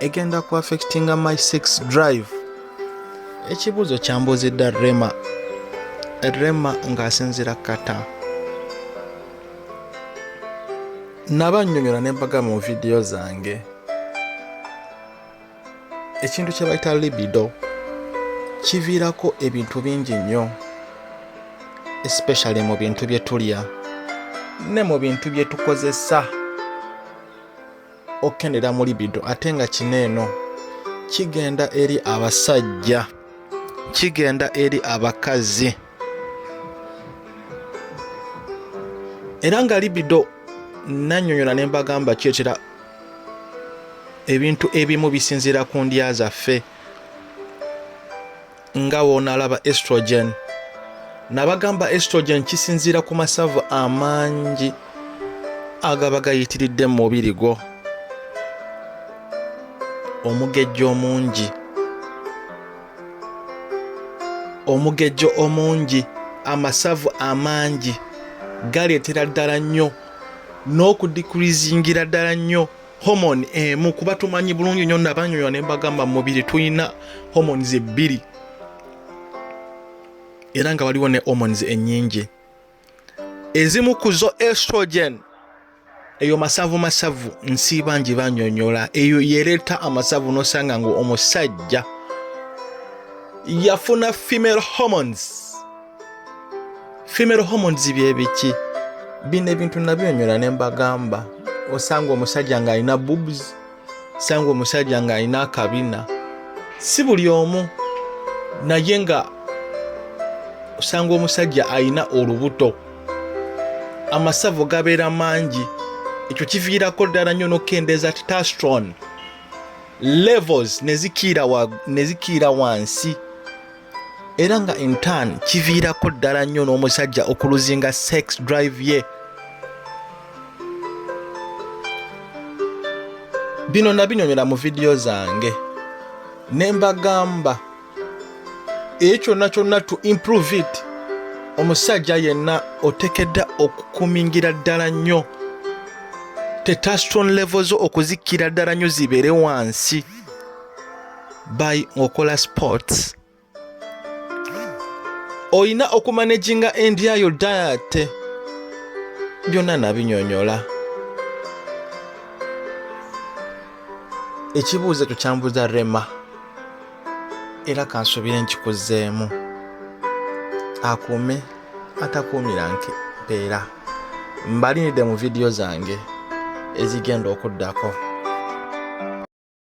egenda ku affectinga my sex drive ekibuuzo kyambuuzidda rema rema ng'asinzira kata naba nnyonyola ne mbaga mu vidiyo zange ekintu kye bayita libido kiviirako ebintu bingi nnyo especially mu bintu bye tulya ne mu bintu bye tukozesa okukendera mu libido ate nga kino eno kigenda eri abasajja kigenda eri abakazi era nga libido nanyonyola ne mbagamba kyetera ebintu ebimu bisinziira ku ndya zaffe nga wonalaba estrogen nabagamba estrogen kisinziira ku masavu amangi agaba gayitiridde mu mubiri gwo omugejjo omungi omugejjo omungi amasavu amangi galeetera ddala nnyo n'okudikurizingira ddala nnyo homoni emu eh, kuba tumanyi bulungi nyo nabanyonyola ne mbagamba mu mubiri tulina homoni ebbiri era nga waliwo ne homoni ennyingi ezimu ku zo estrogen eyo masavu masavu nsiiba ngi banyonyola eyo yereeta amasavu nosanga nga omusajja yafuna female hormones female hormones byebiki bino ebintu nabyonyola ne mbagamba osanga omusajja ng'alina boobs osanga omusajja ng'alina akabina si buli omu naye nga osanga omusajja alina olubuto amasavu gabeera mangi ekyo kiviirako ddala nnyo n'okukendeeza titastron levels nezikiira wansi era nga intan kiviirako ddala nnyo n'omusajja okuluzinga sex drive ye bino nabinyonyola mu vidiyo zange ne mbagamba eyo kyonna kyonna to improve it omusajja yenna otekedda okukumingira ddala nnyo tetaston levo zo okuzikira ddala nnyo zibeere wansi by okola sports olina okumanaginga endiayo diet byonna nabinyonyola ekibuuzo ekyo kyambuza rema era kansubire nkikuzeemu akuume atakuumira nke mpeera mbalinidde mu vidiyo zange ezigenda okuddako